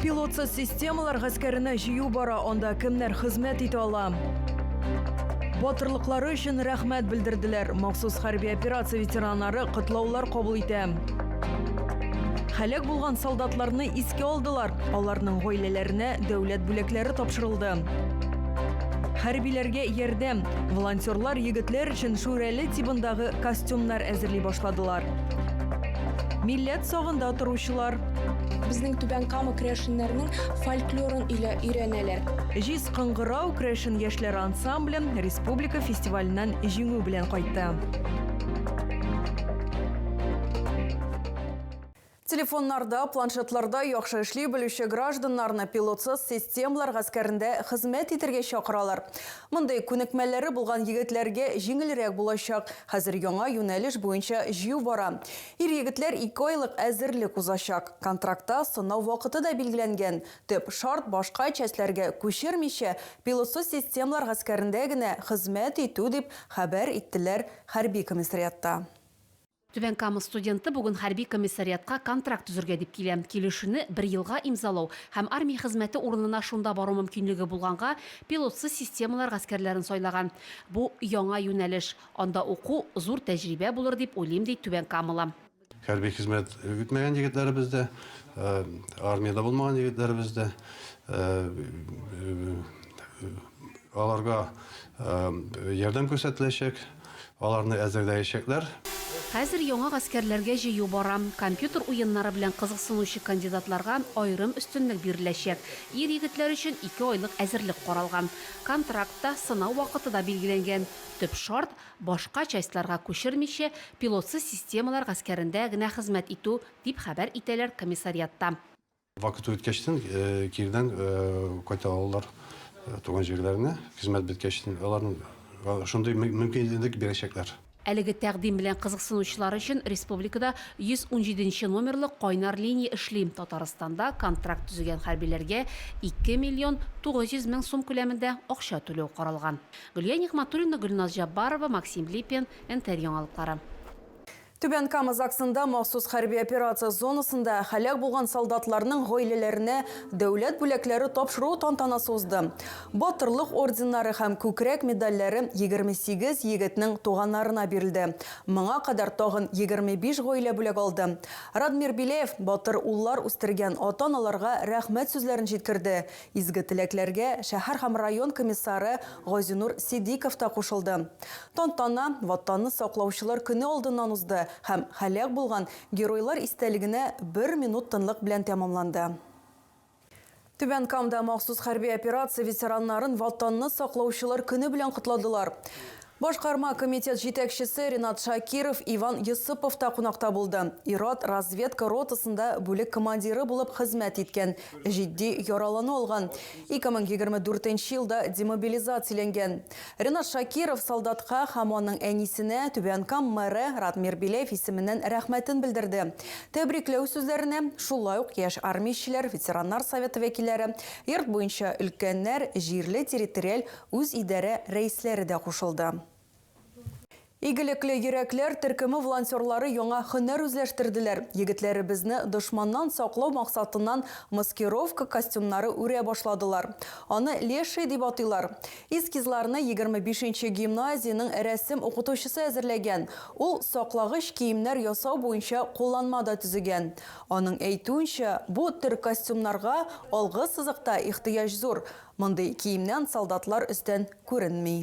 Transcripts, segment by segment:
Пилотсыз системалар гаскәренә җыю бара, анда кемнәр хезмәт итә ала? Батырлыклары өчен рәхмәт белдерделәр. Махсус хәрби операция ветераннары котлаулар кабул итә. Хәләк булган солдатларны искә алдылар. Аларның гаиләләренә дәүләт бүләкләре тапшырылды. Хәрбиләргә ярдәм. Волонтерлар егетләр Чын Шүрәле тибындагы костюмнар әзерли башладылар. Милләт сагында торучылар. Безнең Түбән Кама крәшеннәрнең фольклорын илә өйрәнәләр. Җиз кыңгырау крәшен яшьләр ансамблен республика фестиваленнән җиңү белән кайтты. Телефоннарда, планшетларда яхшы эшли белүче гражданнарны пилотсыз системалар гаскәрендә хезмәт итәргә чакыралар. Мондый күнекмәләре булган егетләргә җиңелрәк булачак, хәзер яңа юнәлеш буенча җыю бара. Ир-егетләр ике айлык әзерлек узачак. Контрактта сынау вакыты да билгеләнгән. Төп шарт, башка частьләргә күчермичә, пилотсыз системалар гаскәрендә генә хезмәт итү, дип хәбәр иттеләр хәрби комиссариатта. Түбән Кама студенты бүген хәрби комиссариатка контракт төзергә дип килә. Килешүне бер елга имзалау һәм армия хезмәте урынына шунда бару мөмкинлеге булганга, пилотсыз системалар гаскәрләрен сайлаган. Бу, яңа юнәлеш. Анда уку, зур тәҗрибә булыр дип уйлыйм, ди түбәнкамалы. Хәрби хезмәт үтмәгән егетләребез дә, армиядә булмаган егетләребез дә, аларга ярдәм күрсәтеләчәк. Аларны әзерләячәкләр. Хәзер яңа гаскәрләргә җыю бара. Компьютер уеннары белән кызыксынучы кандидатларга аерым өстенлек биреләчәк. Ир-егетләр өчен ике айлык әзерлек каралган. Контракт та, сынау вакыты да билгеләнгән. Төп шарт, башка частьларга күчермичә, пилотсыз системалар гаскәрендә генә хезмәт итү, дип хәбәр итәләр комиссариатта. Вакыты үткәчтен кирдән кайта алалар туган җирләренә, хезмәт беткәчтен аларның шундый мөмкинлек бирәчәкләр. Әлеге тәкъдим белән кызыксынучылар өчен республикада 117 нче номерлы кайнар линия эшли, Татарстанда контракт төзегән хәрбиләргә 2 миллион 900 мең сум күләмендә акча түләү каралган. Гөлия Нигъмәтуллина, Гөлназ Җаббарова, Максим Липин, Нтр яңалыклары. Түбән Кама ЗАГСында махсус хәрби операция зонасында һәлак булган солдатларның гаиләләренә дәүләт бүләкләре тапшыру тантанасы узды. Батырлык орденнары һәм күкрәк медальләре 28 егетнең туганнарына бирелде. Моңа кадәр тагын 25 гаилә бүләк алды. Радмир Беляев батыр уллар үстергән ата-аналарга рәхмәт сүзләрен җиткерде, изге теләкләргә шәһәр һәм район комиссары Газинур Сидиков та кушылды. Тантана Ватанны саклаучылар көне алдыннан узды һәм һәлак булган Геройлар истәлегенә бер минут тынлык белән тәмамланды. Түбән Камда махсус хәрби операция ветераннарын Ватанны саклаучылар көне белән котладылар. Башкарма комитет җитәкчесе Ренат Шакиров, Иван Йосыпов та кунакта булды. Ир-ат разведка ротасында бүлек командиры булып хезмәт иткән, җитди яралану алган, 2024 елда демобилизацияләнгән. Ренат Шакиров солдатка һәм аның әнисенә Түбән Кам мэры Радмир Беляев исеменнән рәхмәтен белдерде. Тәбрикләү сүзләренә шулай ук яшь армиячеләр, ветераннар советы вәкилләре, йорт буенча өлкәннәр, җирле территориаль үзидарә рәисләре дә кушылды. Игелекле йөрәкләр төркеме волонтерлары яңа һөнәр үзләштерделәр, егетләребезне дошманнан саклау максатыннан маскировка костюмнары үрә башладылар. Аны леший дип атыйлар. Эскизларны егерме бишенче гимназиянең рәсем укытучысы әзерләгән. Ул саклагыч киемнәр ясау буенча кулланма да төзегән. Аның әйтүенчә, бу төр костюмнарга алгы сызыкта ихтыяҗ зур, мондый киемнән солдатлар өстән күренми.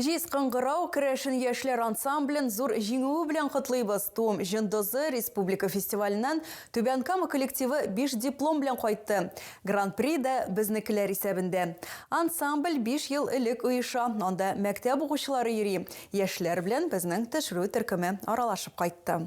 Җиз кыңгырау керәшен яшьләр ансамблен зур җиңүе белән котлыйбыз! Туым җондызы республика фестиваленнән Түбән Кама коллективы биш диплом белән кайтты. Гран-при да безнекеләр исәбендә. Ансамбль биш ел элек оеша, анда мәктәп укучылары йөри, яшьләр белән безнең төшерү төркеме аралашып кайтты.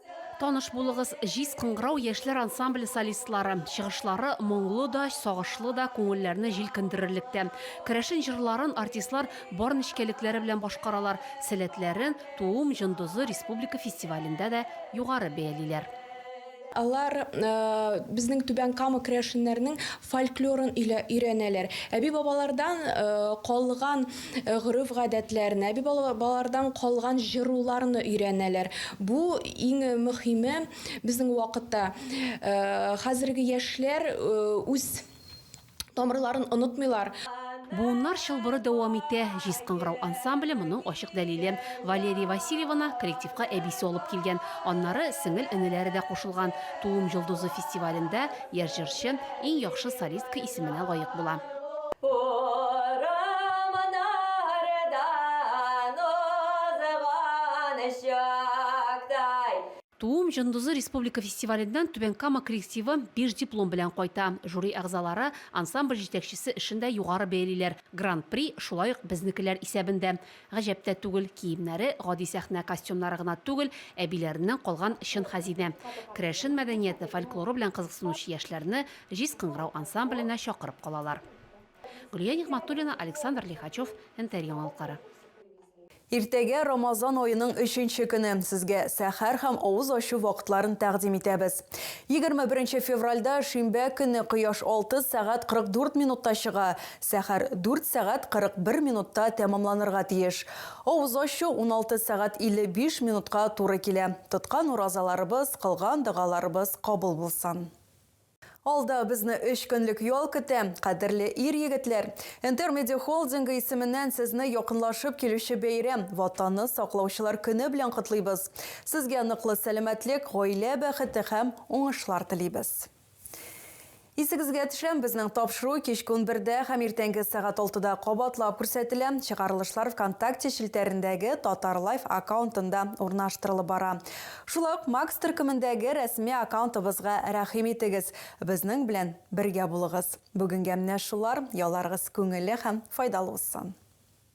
Таныш булыгыз, Җиз кыңгырау яшьләр ансамбле солистлары. Чыгышлары моңлы да, сагышлы да, күңелләрне җилкендерерлек тә. Керәшен җырларын артистлар бар нечкәлекләре белән башкаралар, сәләтләрен Туым җондызы республика фестивалендә дә югары бәялиләр. Алар безнең Түбән Кама керәшеннәренең фольклорын өйрәнәләр, әби-бабалардан калган гореф-гадәтләр, әби бабалардан калган җыруларны өйрәнәләр. Бу иң мөхиме безнең вакытта. Хәзерге яшьләр үз тамырларын онытмыйлар. Буыннар чылбыры дәвам итә. Җиз кыңгырау ансамбле моның ачык дәлиле. Валерия Васильеваны коллективка әбисе алып килгән. Аннары сеңел-энеләре дә кушылган. Тулым йолдызы фестивалендә Яшь җырчы Иң яхшы солистка исеменә лаек була. Урманнардан узган чактай. Туым җондызы республика фестиваленнән Түбән Кама коллективы биш диплом белән кайта. Жюри әгъзалары ансамбль җитәкчесе эшен дә югары бәялиләр, Гран-при шулай ук безнекеләр исәбендә. Гаҗәп тә түгел, киемнәре гади сәхнә костюмнары гына түгел, әбиләреннән калган чын хәзинә. Керәшен мәдәнияте, фольклоры белән кызыксынучы яшьләрне Җиз кыңгырау ансамбленә чакырып калалар. Гөлия Нигъмәтуллина, Александр Лихачев, НТР яңалыклары. Иртәгә, Рамазан аеның өченче көне, сезгә сәхәр һәм авыз ачу вакытларын тәкъдим итәбез. Егерме беренче февральдә, шимбә көнне кояш 6 сәгать 44 минутта чыга, Сәхәр дүрт сәгать 41 минутта тәмамланырга тиеш. Авыз ачу уналты сәгать 55 минутка туры килә. Тоткан уразаларыбыз, кылган догаларыбыз кабул булсын! Алда безне өч көнлек ял көтә, кадерле ир-егетләр! Интермедиа холдингы исеменнән сезне якынлашып килүче бәйрәм, Ватанны саклаучылар көне белән котлыйбыз! Сезгә ныклы сәламәтлек, гаилә бәхете һәм уңышлар телибез! Исегезгә төшәм, безнең тапшыру кичке унбердә һәм иртәнге сәгать алтыда кабатлап күрсәтелә. Чыгарылышлар ВКонтакте челтәрендәге Татарлайф аккаунтында урнаштырылып бара. Шулай ук Макс төркемендәге рәсми аккаунтыбызга рәхим итегез, безнең белән бергә булыгыз. Бүгенгә менә шулар, ялларыгыз күңелле һәм файдалы узсын!